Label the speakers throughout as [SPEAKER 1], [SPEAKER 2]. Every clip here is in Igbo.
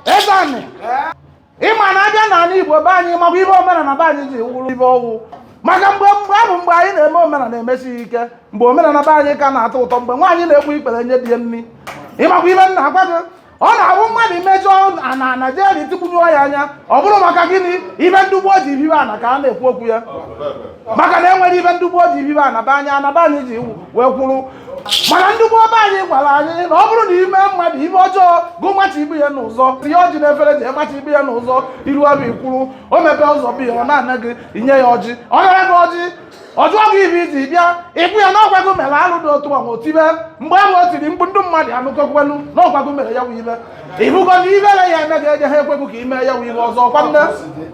[SPEAKER 1] eze anị ịma na abịa n'ala igbo be anyị makwa ibe omenala be anyị ji wụrụ ibe ọ wụ maka mgbe mgbe abụ mgbe anyị na-eme omenala emesighị ike mgbe omenala be anyị ka na-atọ ụtọ mgbe nwaanyị na-egbu ikpere nye di ya nri ịmakwa ibe nna agwa gị ọ na-abụ mmadụ imejọ na naijiria tikwunyụọ ya anya ọ bụrụ maka gịnị ibe ndị gboo ji bibe ana ka a na-ekwu okwu ya maka na enwere ibe ndị gboo ji bibe ana be anyị ana be anyị ji wee kwuru mana ndị gboo be anyị gwara anyị na ọ bụrụ na ime mmadụ ibe ọjọọ gụ macha ibu ya n'ụzọ ihe ọjị na-efere ji emacha ibu ya n'ụzọ iru ọbụ ikwuru o mepee ụzọ bụ ya ọ na-ana gị inye ya ọjị ọ nara gị ọjị ọ jụọ gị ibe iji bịa ịkwụ ya n'ọgwagụ mere alụ dị otu ọnwa otibe mgbe ahụ o tiri mkpu ndị mmadụ anụkọkwenu n'ọgwagụ mere ya wụ ibe ịbụgo na ibere ya eme ga-enye ha ekwegụ ka ime ya wụ ibe ọzọ kwa nne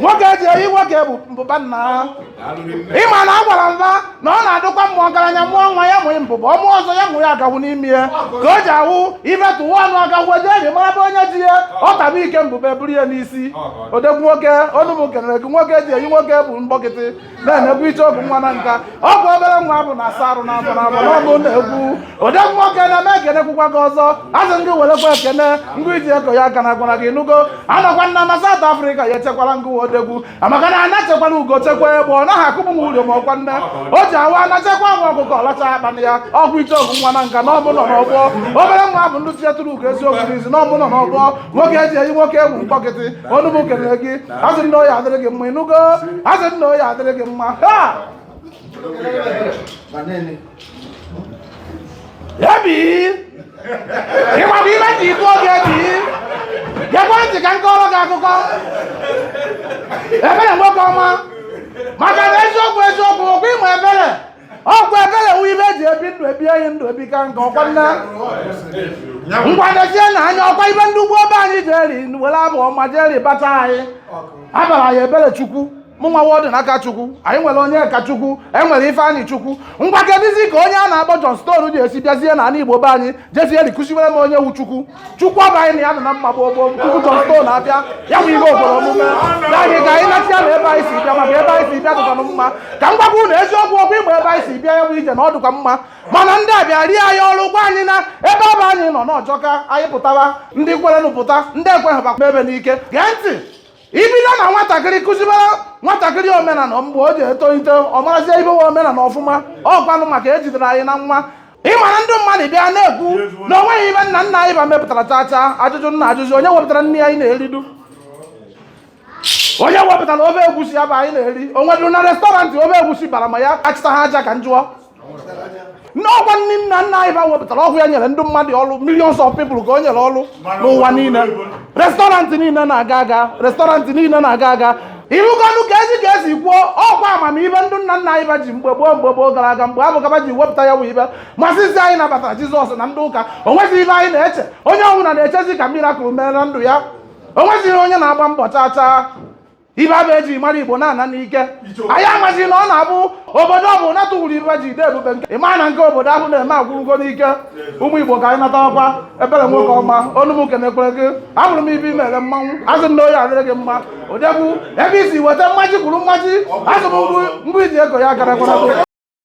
[SPEAKER 1] nwoke eji eyi nwoke bụ mbụba nna ịma na agwara m ba na ọ na-adịkwa mma ọgaranya mụọ nwa ya mụghị mbụba ọ mụọ ọzọ ya mụ ya agahụ n'ime ya ka o ji ahụ imetụ ụwa ọnụ agahụ eji eji mara bụ onye ji ya ọ taba ike mbụba eburu ya n'isi odegwu nwoke onụ m kenere gị nwoke eji eyi nwoke bụ mkpọkịtị na-emegbu iche ọgụ nwa Nanka ọ bụ obere nwa bụ na-asa arụ n'afọ n'afọ n'ọbụ na-egwu odegwu nwoke m ekenekwukwa gị ọzọ asị m gị werekwa ekene ngwa iji eko ya aka na gwara gị ịnụgo anọkwa nna na South Africa ya echekwala ngụ odegwu maka na a na-echekwala ugo chekwa egbe ọ naghị akụpụ m ụlọ ma ọkwa nne o ji awa na chekwa nwa ọkụkọ ọ lachaa akpana ya ọgwụ iche ọgụ nwa Nanka n'ọbụ nọ n'ọgbọ obere nwa bụ ndị tinyetụrụ ugo eziokwu n'izi n'ọbụ nọ n'ọgbọ nwoke eji eyi nwoke bụ mkpọkịtị ọnụ m kelere gị asị m na ọ ya-adịrị gị mma ịnụgo asị m na ọ ya-adịrị gị mma ha ebi ịma bụ ibe ji ibu oge ebi gekwe ntị ka m kọọrọ gị akụkọ ebere nwoke ọma maka na eziokwu eziokwu okwu ịma ebere ọkwa agaghị enwe ibe eji ebi ndụ ebi anyị ndụ ebi ka nke ọkwa nna ngwa dezie na anya ọkwa ibe ndị gboo be anyị jiri were abụ ọma jiri bata anyị abara anyị ebere chukwu anyị nwere ọdịnakachukwu anyị nwere onyekachukwu anyị nwere ifeanyịchukwu ngwa kedụzi ka onye a na-akpọ John Stone ji esi bịazie na ala igbo be anyị jiziri kuziwere m onye wụ chukwu chukwu abụ anyị na ya dị na mma gboo gboo tupu John Stone abịa ya bụ ihe obodo ụmụnna anyị ka anyị nachịa na ebe anyị si bịa maka ebe anyị si bịa dịkwanụ mma ka m gwakwa unu eziokwu okwu ịgba ebe anyị si bịa ya bụ ije na ọ dịkwa mma mana ndị a bịa rie anyị ọrụ gwa anyị na ebe ọ bụ anyị nọ na ọ jọka anyị pụtara ndị kwerenụ pụta ndị ekweghị bakwa ebe n'ike gee ntị ibido na nwatakịrị kụzibara nwatakịrị omenala mgbe o ji etolite ọ marazie ibe wụ omenala ọfụma ọkwanụ maka ejidere anyị na nwa ịmara ndị mmadụ bịa na-ekwu na o nweghị ibe nna nna anyị ba mepụtara chacha ajụjụ nna ajụjụ onye wepụtara nri anyị na-eridu onye wepụtara ofe egwusi ya bụ anyị na-eri onwedịrụ na restaurant ofe egwusi bara ma ya achịta ha aja ka m jụọ na ọkwa ndị nna nna anyị ba wepụtara ọ bụ ya nyere ndị mmadụ ọrụ millions of people ka o nyere ọrụ n'ụwa niile restọrantị niile na-aga aga restọrantị niile na-aga aga ị hụgonụ ka esi ka esi kwuo ọkwa amamihe ndị nna nna anyị ba ji mgbe gboo mgbe gboo gara aga mgbe abụ ka ba ji wepụta ya bụ ibe masịzi anyị nabatara jizọs na ndị ụka o nwezi ibe anyị na-eche onye ọbụla na-echezi ka mirakụl mere na ndụ ya o nwezighị onye na-agba mbọ chaa chaa ibe abụ eji mara igbo na-ana n'ike anyị amazi na ọ na-abụ obodo ọbụna tụwuru ibe ji ide ebube nke ịma na nke obodo ahụ na-eme agwụgo n'ike ụmụ igbo ka anyị natakwa ebere nwoke ọma ọnụ m kenekwere gị ahụrụ m ibe i mere mmanwụ asị m na ọ ya-adịrị gị mma ọ dị egwu ebe i si weta mmaji kwuru mmaji azụ m mbụ iji ego ya gara gwara